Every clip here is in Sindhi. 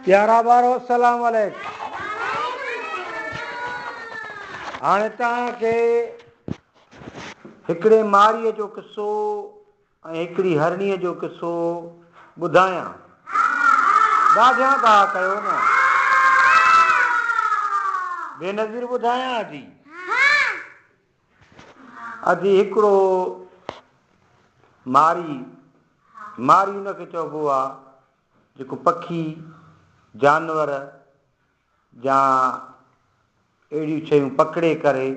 پيارا ٻارو السلام عليڪم هاڻي توهان کي هڪڙي ماريء جو قصو ۽ هڪڙي هرڻيء جو قصو ٻڌايان ڏاڍيان گاهه ڪيو نه بينظير ٻڌايان جي ادي هڪڙو ماري، ماري ان کي چئبو آ جيڪو پکي، جانور يا اهڙيون شيون پڪڙي ڪري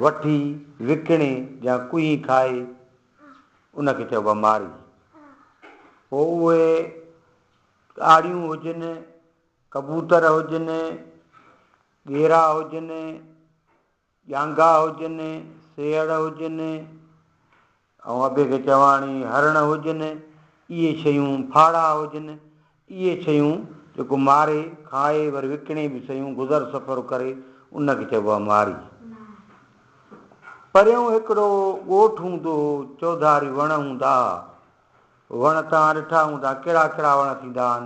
وٺي وڪڻي يا ڪوهي کائي ان کي چئبو آ ماري. پوء اهي آڙيون هجن، ڪبوتر هجن، ڳيرا هجن، ڄانگها هجن، سيهڙ هجن ۽ ابي کي چواڻي هرڻ هجن، اهي شيون ڦاڙها هجن، اهي شيون جيڪو ماري، کائي وري وڪڻي به سهيون گذر سفر ڪري ان کي چئبو آهي ماري. پريون هڪڙو ڳوٺ هوندو هو، چوڌاري وڻ هوندا ها، وڻ توهان ڏٺا هوندا ڪهڙا ڪهڙا وڻ ٿيندا آهن،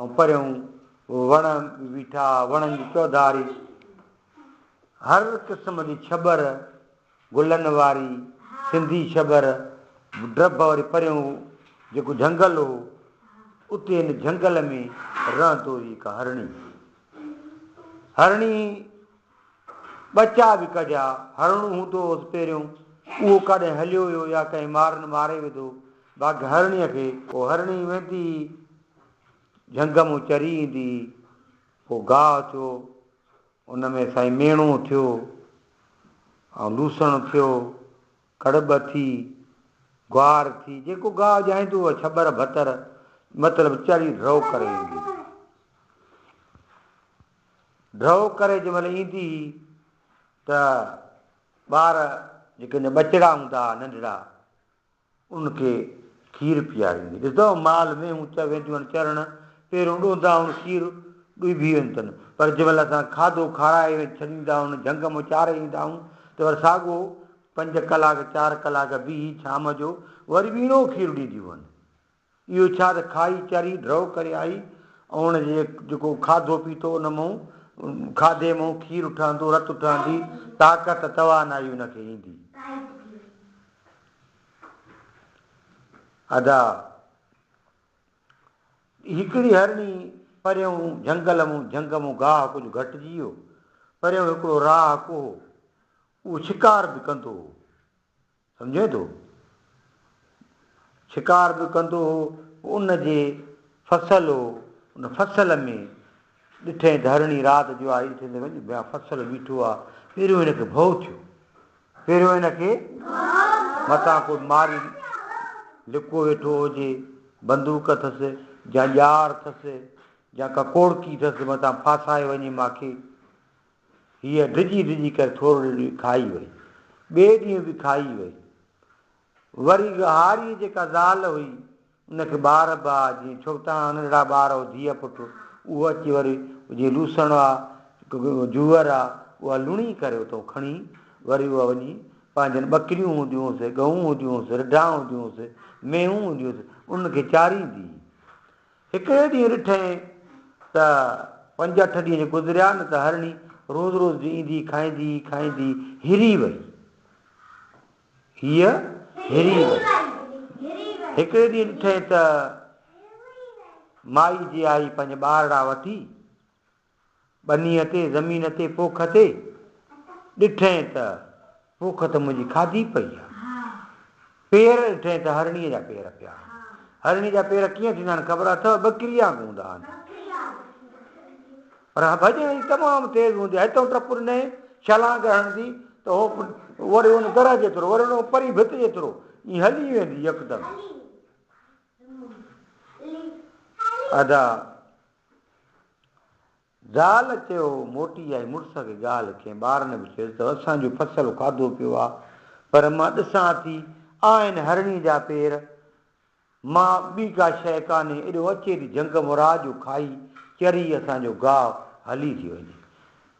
۽ پريون وڻ به بيٺا، وڻن جي چوڌاري هر قسم جي ڇٻر، گلن واري سنڌي ڇٻر، ڊڀ وري پريون جيڪو جهنگل هو، اتي ان جهنگل ۾ رهندو هئي هڪ هرڻي. هرڻي. ٻچا به ڪڍيا، هرڻ هوندو هوس پهريون، اهو ڪاڏنهن هليو ويو يا ڪنهن مارن ماري وڌو، باقي هرڻيء کي. پوء هرڻي ويندي هئي، جهنگ مون چري ايندي هئي، پوء گاهه ٿيو، ان ۾ سائين ميڻو ٿيو ۽ لوسڻ ٿيو، ڪڙٻ ٿي، گوار ٿي، جيڪو گاهه ڄائيندو هو، ڇٻر ڀتر، مطلب چري ڍرو ڪري ايندي هئي. ڊرئو ڪري جنهن مهل ايندي هئي ته ٻار جيڪي هن جا ٻچڙا هوندا ها ننڍڙا انهن کي کير پياريندي. ڏسندو هو مال مينهون چ وينديون آهن چرڻ، پيرون ڏوندا هون کير ڏوئي بيهي وينديون اٿن. پر جنهن مهل اسان کاڌو کارائي ۽ ڇڏيندا هون جهنگ مان چاري ايندا هون ته وري ساڳو پنج ڪلاڪ چار ڪلاڪ بيهي شام جو وري ٻيڻو کير ڏينديون هن. اهو ڇا ته کاهي ويچاري ڊرئو ڪري آئي ۽ هن جي جيڪو کاڌو پيتو ان مئن کاڌي مئن کير اٺهندو رت اٺهندي طاقت توانائي ان کي ايندي. ادا هڪڙي هرڻي پريون جهنگل مئن جهنگ مئن گاهه ڪجهه گهٽجي ويو پريون هڪڙو راهه ڪو هو اهو شڪار به ڪندو هو. سمجهين ٿو؟ شڪار به ڪندو هو، پوء ان جي فصل هو، ان فصل ۾ ڏٺئين ڌرڻي رات جو آئي اٿي ته وڃ بيا فصل بيٺو آ، پهريون هن کي ڀؤ ٿيو، پهريون هن کي متان ڪو ماري لڪو ويٺو هجي، بندوق اٿس يا ڄار اٿس يا ڪا ڪوڙڪي اٿس متان ڦاسائي وڃي ماکي، هيء ڊڄي ڊڄي ڪري ٿورڙي ڏينهن کائي وئي. ٻئي ڏينهن به کائي وئي. وري ڳهاريء جيڪا زال هئي، ان کي ٻار به ها، جيئن ڇوٽا ننڍڙا ٻار هو ڌيء پٽ، اهو اچي وري جيئن لوسڻ ها، جوئر ها، اها لڻي ڪري اتئون کڻي وري اها وڃي پنهنجين ٻڪريون هونديون هيس، ڳئون هونديون هيس، رڍا هونديون هيس، مينهون هونديون هيس، انهن کي چاريندي هئي. هڪڙي ڏينهن ڏٺئين ته پنج اٺ ڏينهن گذريا نه ته هرڻي روز روز جي ايندي کائيندي کائيندي هري وئي. هيء هري وئي. هڪڙي ڏينهن ڏٺئين ته مائي جي آئي پنج ٻارڙا وٺي. ٻنيء تي زمين تي پوک تي ڏٺئين ته پوک ته منهنجي کاڌي پئي آ. پير ڏٺئين ته هرڻيء جا پير پيا آهن. هرڻيء جا پير ڪيئن ٿيندا آهن خبر اٿئو؟ ٻڪريء وانگي هوندا آهن. پر ڀڄڻ جي تمام تيز هوندي آهي. هتئون ٽپ ڏنئين، ڇلانگ هڻندي ته هو وري ان درهه جيترو، وري ان پرين ڀت جيترو ائين هلي ويندي يڪدم. ادا زال چيو موٽي آئي مڙس کي ڳالهه ڪئين ٻارن به چيس ته اسان جو فصل کاڌو پيو آ پر مان ڏسان ٿي آ هن هرڻي جا پير مان ٻي ڪا شيء ڪانهي ايڏو اچي ٿي جهنگ مراء جو کائي چري اسان جو گاء هلي ٿي وڃي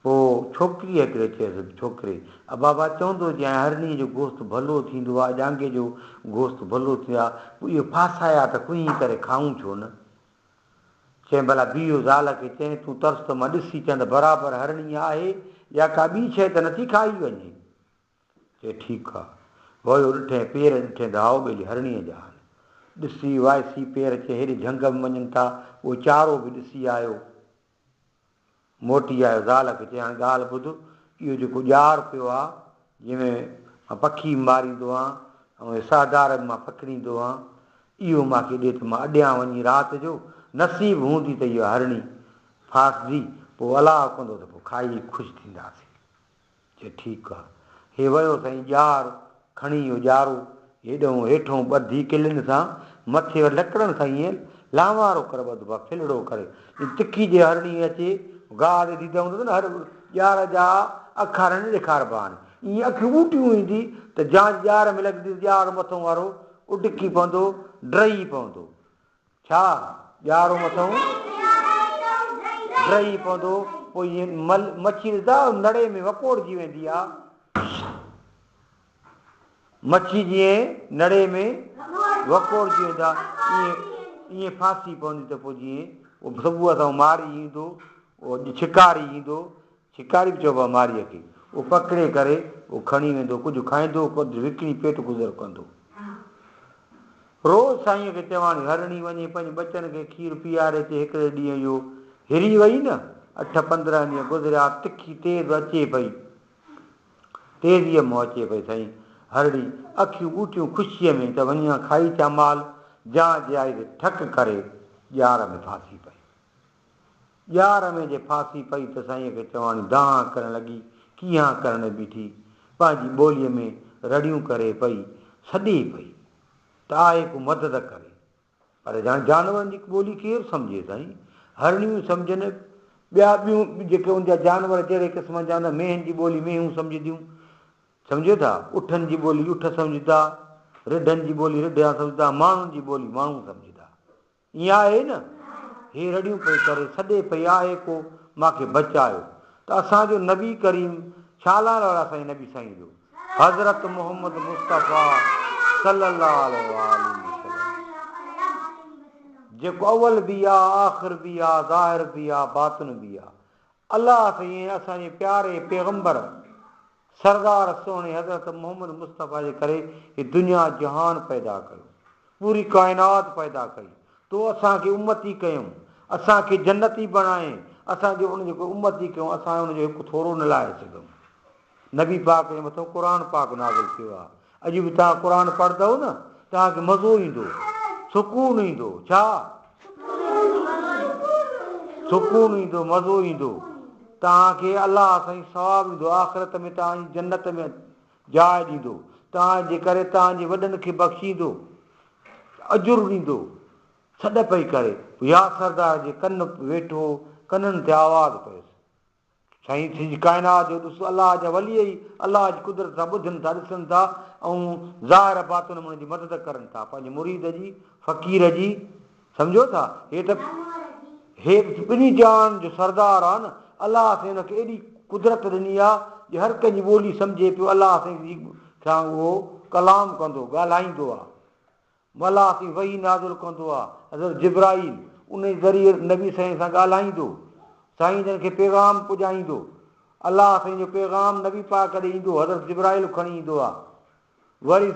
پو ڇوڪري هڪڙي چيس ڇوڪري آ بابا چوندو جي آهي هرڻي جو گوست ڀلو ٿيندو آ ڄانگهي جو گوست ڀلو ٿيندو آ پو اهي ڦاسايا ته ڪوهين ڪري کائون ڇو نه. چيائين، ڀلا بيهه زال کي چئين، تون ترس ته مان ڏسي ٿيان ته برابر هرڻي آهي يا ڪا ٻي شيء ته نٿي کائي وڃي. چي ٺيڪ آ. ويو ڏٺئين پير ڏٺئين ته هائو ٻيلي هرڻيء جا آهن. ڏسي وائسي پير چي هيڏي جهنگ ۾ وڃن ٿا، اهو چارو به ڏسي آيو. موٽي آيو زال کي چيائين هاڻي ڳالهه ٻڌ اهو جيڪو ڄار پيو آ جنهن ۾ مان پکي ماريندو هان ۽ اهي سهدار به مان پڪڙيندو هان اهو مان کي ڏي ته مان اڏيان وڃي رات جو نصيب هوندي ته اها هرڻي ڦاسجي پوء الاهه ڪندو ته پوء کائي خوش ٿينداسين. چي ٺيڪ آ. هي ويو سائين ڄار کڻي اهو ڄارو هيڏهون هيٺون ٻڌي ڪلين سان مٿي وري لڪڙن سان ائين لانوارو ڪري ٻڌبو آ ڦلڙو ڪري ائين تکي جي هر ڏينهن اچي گاهه تي ديده هوندس نه هر ڄار جا اکر ائين ڏيکاربا آهن ائين اکيون ٻوٽيون ايندي ته جانچ ڄار ۾ لڳنديس ڄار مٿون وارو اڏڪي پوندو ڊهي پوندو ڇا ڄارو مٿئون ڊهي پوندو، پوء هيء مل مڇي رڌا نڙي ۾ وڪوڙجي ويندي آ. مڇي جيئن نڙي ۾ وڪوڙجي ويندا ايئن ايئن ڦاسي پوندي ته پوء جيئن اهو سڀوء سان ماري ايندو، اهو شڪاري ايندو شڪاري به چئبو آهي مارئيء کي. اهو پڪڙي ڪري اهو ڪھڻي ويندو. ڪجهه کائيندو، ڪجهه وڪڻي پيٽ گذر ڪندو. روز سائينء کي چواڻي هرڻي وڃي پنهنجي ٻچن کي کير پياري اچي. هڪڙي ڏينهن اهو هري وئي نه. اٺ پندرهن ڏينهن گذريا. تکي تيز اچي پئي. تيزيء منهن اچي پئي سائين. هرڻي اکيون ٻوٽيون خوشيء ۾ ته وڃي هان کائي اچان مال. جان جيائي ته ٺڪ ڪري ڄار ۾ ڦاسي پئي. ڄار ۾ جي ڦاسي پئي ته سائينء کي چواڻي دانهن ڪرڻ لڳي، ڪيهان ڪرڻ ۾ بيٺي، پنهنجي ٻوليء ۾ رڙيون ڪري پئي، سڏي پئي ته آء ڪو مدد ڪري. پر ڄڻ جانورن جي ٻولي ڪير سمجهي سائين، هرڻيون سمجهن، ٻيا ٻيون جيڪي ان جا جانور جهڙي قسمن جا هوندا، مينهن جي ٻولي مينهون سمجهنديون، سمجهيو ٿا، اٺن جي ٻولي اٺ سمجهندا، رڍن جي ٻولي رڍيان سمجهندا، ماڻهن جي ٻولي ماڻهو سمجهندا. ائين آهي نه؟ هيء رڙيون پئي ڪري سڏي پئي آهي ڪو مان کي بچايو ته اسان جو نبي ڪريم ڇا لاء رڙا سائين نبي سائين جو حضرت محمد مصطفيٰ صلي الله عليه وآله وسلم جيڪو اول به آ آخر به آ ظاهر به آ باطن به آ الله سائين اسان جي پياري پيغمبر سردار سهڻي حضرت محمد مصطفيٰ جي ڪري هي دنيا جهان پيدا ڪيو، پوري ڪائنات پيدا ڪئي، تو اسان کي امتي ڪيم، اسان کي جنتي بڻايين، اسان جي ان جي ڪو امتي ڪيو اسان ان جو هڪ ٿورو نه لاهي سگهيم. نبي پاڪ جي مٿان قرآن پاڪ نازل ٿيو آهي، اڄ به توهان قرآن پڙهندؤ نه توهان کي مزو ايندو، سڪون ايندو، ڇا؟ سڪون ايندو، مزو ايندو، توهان کي الله سائين ثواب ڏيندو، آخرت ۾ توهان جي جنت ۾ جاء ڏيندو، توهان جي ڪري توهان جي وڏن کي بخشيندو، اجر ڏيندو. سڏ پئي ڪري، ياسردار جي ڪن ويٺو، ڪنن تي آواز پيس. سائين سڄي ڪائنات جو ڏس الله جا ولي ئي الله جي قدرت سان ٻڌن ٿا ڏسن ٿا ۽ ظاهر باطن ۾ ان جي مدد ڪرن ٿا پنهنجي مريد جي فقير جي سمجهو ٿا هي ته هي ته ٻنهي جهان جو سردار آ نه الله سائين ان کي ايڏي قدرت ڏني آ جو هر ڪنهن جي ٻولي سمجهي پيو الله سائين سان اهو ڪلام ڪندو ڳالهائيندو آ ملاح تي وحي نازل ڪندو آهي، حضرت جبرائيل انهي ذريعي نبي سائين سان ڳالهائيندو، سائين جن کي پيغام پڄائيندو، الله سائين جو پيغام نبي پاڪ ڏي ايندو حضرت جبرائيل کڻي ايندو آهي وري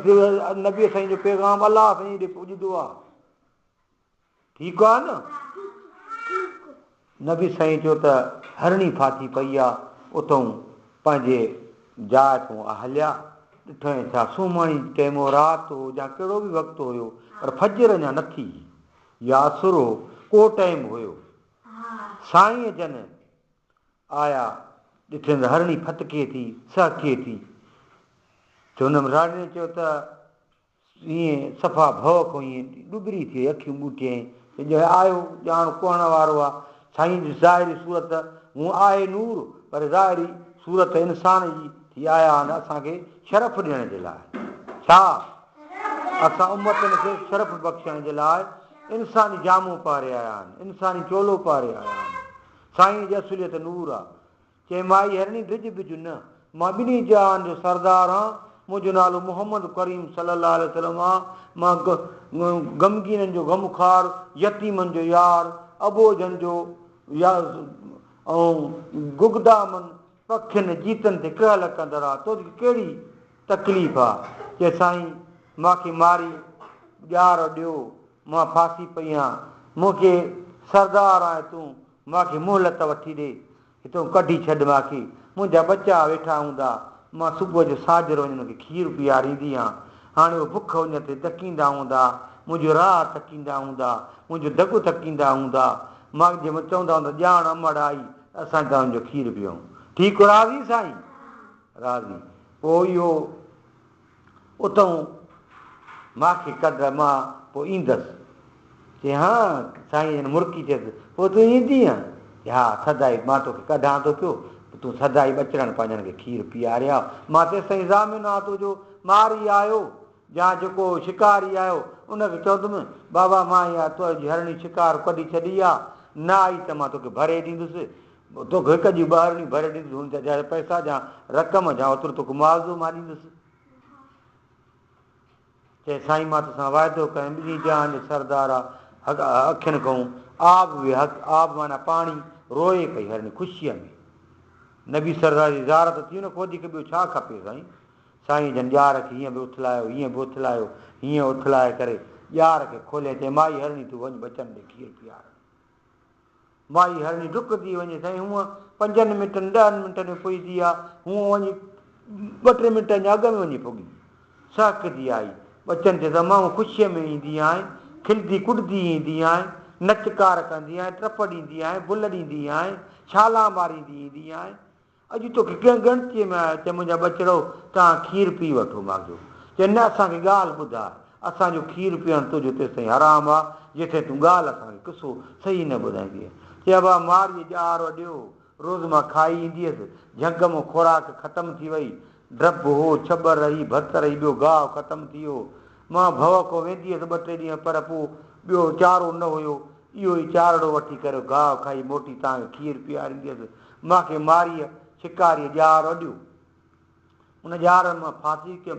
نبي سائين جو پيغام الله سائين ڏي پڄندو آهي. ٺيڪ آ نه؟ نبي سائين چيو ته هرڻي ڦاٿي پئي آ، اتئون پنهنجي جاء تون آ هليا. ڏٺئين ڇا سومهاڻي ٽيم هو، رات هو يا ڪهڙو به وقت هيو، پر فجر اڃا نه ٿي هئي يا عصر هو، ڪو ٽيم هيو. سائين جن آيا، ڏٺين ته هرڻي ڦٿڪي ٿي، سهڪي ٿي. ته هن مڙهاڙي چيو ته ايئن صفا ڀؤ کان ايئن ڏٻري ٿئي اکيون ٻوٽيائين ته ڄڻ آيو ڄاڻ ڪهڻ وارو آ. سائين جي ظاهري صورت هونء آهي نور پر ظاهري صورت انسان جي ٿي آيا آهن اسان کي شرف ڏيڻ جي لاء. ڇا اسان امتن کي شرف بخشڻ جي لاء انساني جامو پهري آيا آهن، انساني چولو پهري آيا آهن. سائينء جي اصليت نور آ. چيم آء هرڻي ڊڄ ٻج نه، مان ٻنهي جهان جو سردار آن، مون جو نالو محمد ڪريم صلي الله عليه وسلم آن، مان غمگينن جو غم خار، يتيمن جو يار، اٻوجهن جو يار ۽ گگدامن، پکين، جيتن تي ڪهل ڪندڙ آ، تو کي ڪهڙي تڪليف آ؟ چيس سائين مان کي ماري ڄار ڏيو، مان ڦاسي پئي آن، مون کي سردار آهي تون، مان کي مهلت وٺي ڏي. هتئون ڪڍي ڇڏ مان کي. منهنجا ٻچا ويٺا هوندا. مان صبح جو ساجهر وڃي هن کي کير پياريندي هان. هاڻي اهي بک اڃ تي تڪيندا هوندا. منهنجو راهه تڪيندا هوندا. منهنجو دڳ تڪيندا هوندا. مان جي مان چوندا هوندا ڄاڻ امڙ آئي ته اسان گانهن جو کير پيئون. ٺيڪ راضي سائين؟ راضي. پوء اهو. اتئون ماکي ڪڍ مان پوء ايندس. چي ها سائين جن مرڪي چيس، پوء تون ايندينء؟ چي ها سدائي مان توکي ڪڍان ٿو پيو، تون سدائي ٻچڙن پنهنجن کي کير پيئارياء، مان تيستائين ضامن آ تنهنجو، ماري آيو يا جيڪو شڪاري آيو ان کي چوندم، بابا مان اها تنهنجي هرڻي شڪار ڪڍي ڇڏي آ، نه آئي ته مان توکي ڀري ڏيندس، توک هڪ ڏينهن ٻارڙي ڀر ڏيندس هن جا جهڙ پئسا جا رقم جا اوترو توک معاوضو مان ڏيندس. چئي سائين مان تو سان واعدو ڪيم ٻنهي جهان جو سردار آ هڪ اکين ڪون آب وي هڪ آب معنيٰ پاڻي روئي پئي هرڻي خوشيء ۾ نبي سردار جي زيارت ٿي ان کان وڌيڪ ٻيو ڇا کپي سائين سائينء جن ڄار کي هيئن به اٿلايو هيئن به اٿلايو هيئن اٿلائي ڪري ڄار کي کوليائين چئي مائي هرڻي تون وڃ ٻچن ڏي کير پيار. مائي هرڻي ڊڪندي وڃي سائين هونء پنجن منٽن ڏهن منٽن ۾ پڄدي آ هونء وڃي ٻه ٽي منٽن جا اڳ ۾ وڃي پڳي سهڪدي آئي ٻچن تي ته مئون خوشيء ۾ ايندي آهين کلدي ڪڏدي ايندي آهين نچ ڪار ڪندي آهين ٽپ ڏيندي آهين بل ڏيندي آهين ڇالان ماريندي ايندي آهين اڄ توکي ڪنهن ڳڻتيء ۾ آيو ته منهنجا ٻچڙو توهان کير پي وٺو، ماء جو چيو نه اسان کي ڳالهه ٻڌاء، اسان جو کير پيئڻ تنهنجو تيستائين حرام آ جيستائين تون ڳالهه اسان کي قصو صحيح نه ٻڌائيندينء، چي ابا مارئيء ڄار اڏيو، روز مان کائي ايندي هيس، جهنگ مان خوراڪ ختم ٿي وئي، ڊڀ هو، ڇٻر رهي، ڀت رهي، ٻيو گاهه ختم ٿي ويو، مان ڀؤ کان ويندي هيس ٻه ٽي ڏينهن پر پوء ٻيو چارو نه هيو، اهو ئي چارڙو وٺي ڪري گاهه کائي موٽي توهان کي کير پياريندي هيس، مان کي ماريء شڪاريء ڄار اڏيو. ان ڄار مان ڦاسي ڪيم.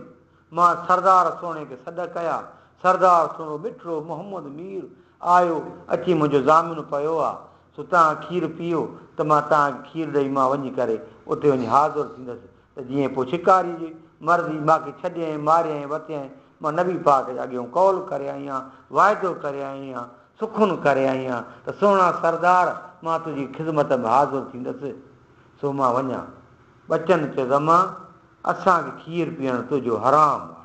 مان سردار سهڻي کي سڏ ڪيا. سردار سهڻو مٺڙو محمد مير آيو اچي منهنجو ضامن پيو آ. سو توهان کير پيئو ته مان توهان کي کير ڏئي مان وڃي ڪري اتي وڃي حاضر ٿيندس. ته جيئن پوء شڪاريء جي مرضي ماکي ڇڏيائين، ماريائين، وتيائين، مان نبي پاڪ جي اڳيون قول ڪري آئي آهيان، واعدو ڪري آئي آهيان، سخن ڪري آئي آهيان ته سهڻا سردار مان تنهنجي خذمت ۾ حاضر ٿيندس، سو مان وڃان. ٻچن چيو زمان! اسان کي کير پيئڻ تنهنجو حرام آهي.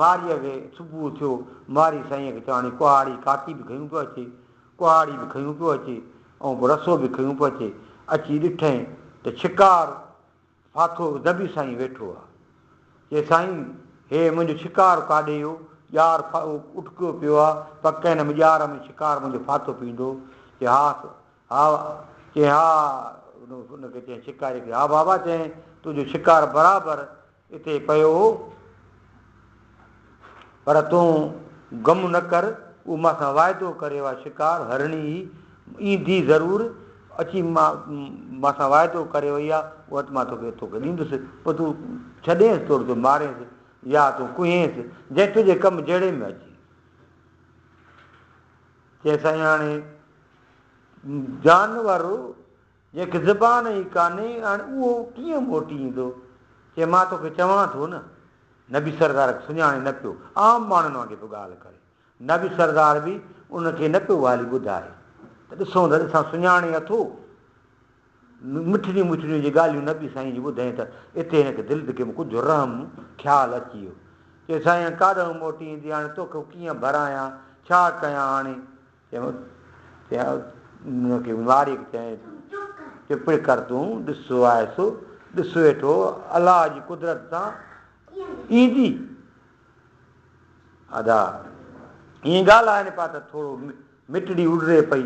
ماريء کي صبح ٿيو. ماري سائينء کي چيو، هاڻي ڪهاڙي ڪاڪي به کنيون پيو اچي. ڪهاڙي به کنيون پيو اچي ۽ پوء رسو به کنيون پيو اچي. اچي ڏٺئين ته ڇڪار ڦاٿو دٻي سائين ويٺو آ. چيس، سائين! هيء منهنجو ڇڪار ڪاڏي اهو ڄار اٽڪيو پيو آ. پڪ هن ڄار ۾ ڇڪار منهنجو ڦاٿو پيندو؟ چيس، ها سو ها. چيس، ها. ان کي چيائين، ڇڪاري کي، ها بابا! چيائين، تنهنجو ڇڪار برابر اتي پيو هو، پر تون غم نه ڪر، هو مان سان واعدو ڪري اها شڪار، هرڻي، هي ايندي ضرور، اچي مان سان واعدو ڪري وئي آهي، اها ته مان توکي توکي ڏيندس، پوء تون ڇڏينس توڙي تون مارينس يا تون ڪوهينس، جنهن تنهنجي ڪم جهڙي ۾ اچي. چيائين سائين هاڻي جانور جنهن کي زبان ئي ڪانهي هاڻي اهو ڪيئن موٽي ايندو؟ چي مان توکي چوان ٿو نه. نبي سردار کي سڃاڻي نه پيو عام ماڻهن وانگي پيو ڳالهه ڪري. نبي سردار به ان کي نه پيو والي ٻڌائي ته ڏسون ته ڏسان سڃاڻي اٿو؟ مٺڙيون مٺڙيون جي ڳالهيون نبي سائين جي ٻڌائين ته اتي هن کي دل دڪي ۾ ڪجهه رحم خيال اچي ويو. چي سائين هاڻي ڪاڏهون موٽي ايندي هاڻي توکي ڪيئن ڀرايان ڇا ڪيان هاڻي؟ تنهن کي ماري چيائين، چپ ڪر تون ڏس آء سو ڏس ويٺو، الله جي قدرت سان ايندي. ادا ائين ڳالهائين پيا ته ٿورو مٽڙي اڏري پئي،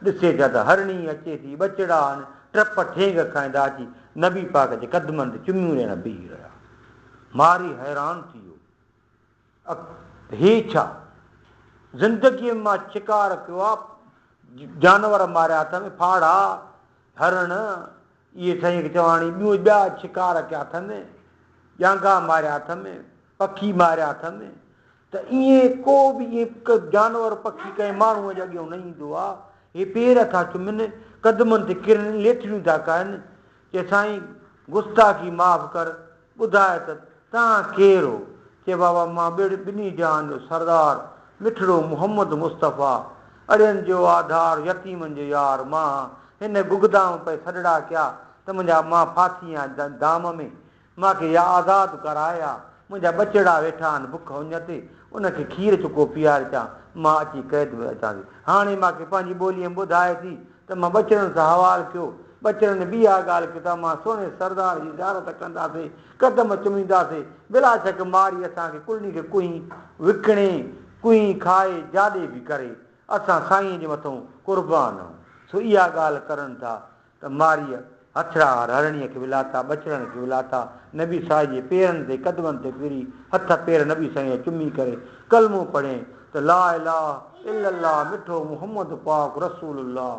ڏسي ٿا ته هرڻي اچي ٿي، ٻچڙا آهن، ٽپ ٺينگ کائيندا اچي نبي پاڪ جي قدمن تي چميون ڏيڻ بيهي رهيا. ماري حيران ٿي ويو. اک هي ڇا؟ زندگيء مان ڇڪار پيو آ، جانور ماريا اٿم، ڦاڙها، هرڻ، اهي سائين هڪ چواڻي، ٻيون ٻيا ڇڪار ڪيا اٿم، ڄانگها ماريا اٿم، پکي ماريا اٿم، ته ايئن ڪو به ايئن ڪو جانور پکي ڪنهن ماڻهوء جي اڳيئون نه ايندو آ، هي پير ٿا چمن، قدمن تي ڪرن، ليٿڙيون ٿا ڪهن، چي سائين گستاخي معاف ڪر ٻڌاء ته تان ڪير هو؟ چي بابا مان ٻڙ ٻنهي جهان جو سردار مٺڙو محمد مصطفيٰ اڙين جو آڌار يتيمن جو يار مان هن گگدام پئي سڏڙا ڪيا ته منهنجا مان ڦاسي آهيان دام ۾ مان کي يا آزاد ڪر آء يا منهنجا ٻچڙا ويٺا آهن بک اڃ تي، انهن کي کير چڪو پيار چا مان اچي قيد ۾ اچان ٿي. هاڻي مان کي پنهنجي ٻوليء ۾ ٻڌاء ٿي ته مان ٻچڙن سان حوال ڪيو. ٻچڙن به اها ڳالهه ڪئي ته امان سهڻي سردار جي زيارت ڪنداسين، قدم چمينداسين. بلا شڪ مارئي اسان کي ڪلهي کي ڪنهين وڪڻي، ڪنهين کائي جاڏي به ڪري، اسان سائينء جي مٿئون قربان آهون. سو اها ڳالهه ڪرن ٿا ته ماريء هٿيار هرڻيء کي ولاتا، ٻچڙن کي ولاتا، نبي صاحي جي پيرن تي قدمن تي ڦري هٿ پير نبي صاحيء جا چمي ڪري ڪلمو پڙهين ته لا اله الا الله مٺو محمد پاڪ رسول الله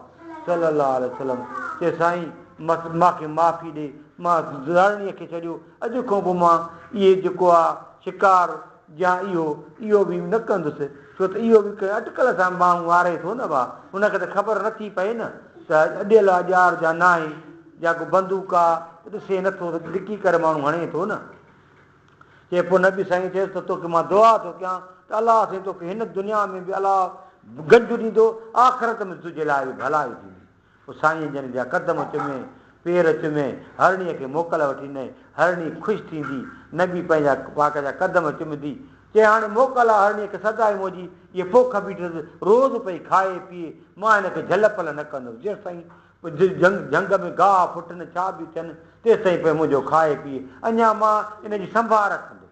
صلي الله عليه وسلم چي سائين مان کي معافي ڏي مان هرڻيء کي ڇڏيو اڄ کان پوء مان اهي جيڪو آ شڪار جا اهو اهو به نه ڪندس ڇو ته اهو به ڪنهن اٽڪل سان ٻانهون واري ٿو نه ڀا هن کي ته خبر نه ٿي پئي نه ته اڏيل آ ڄار جا ناهي جا ڪو بندوق آ ته ڏسي نه ٿو ته ڊڪي ڪري ماڻهو هڻي ٿو نه چي پوء نبي سائين چيس ته توکي مان دعا ٿو ڪيان ته الله سائين توکي هن دنيا ۾ به الله گنج ڏيندو آخرت ۾ به تنهنجي لاء به ڀلائي ٿيندي. پوء سائينء جن جا قدم چمي، پير چمي، هرڻيء کي موڪل وٺي ڏنائين. هرڻي خوش ٿيندي، نگي پنهنجا واڪ جا قدم چمندي، چيائين، هاڻي موڪل آ، هرڻيء کي سدائين منهنجي هيء پوک ٻيٺس، روز پئي کائي پيئي، مان هن کي جهل پل نه ڪندس، جيستائين جهنگ ۾ گاهه ڦٽ نه ڇا به ٿين، تيستائين پئي منهنجو کائي پيئي، اڃا مان هن جي سنڀال رکندس.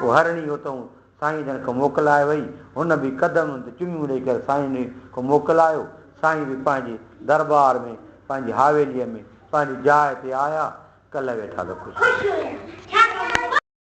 وهرڻي اهو اٿئون سائين جن کان موڪل آئي وئي. هن به قدمن تي چميون ڏئي ڪري سائين جن کان موڪل آيو. سائين به پنهنجي درٻار ۾ پنهنجي حاويليء ۾ پنهنجي جاء تي آيا. ڪلهه ويٺا ته خوش.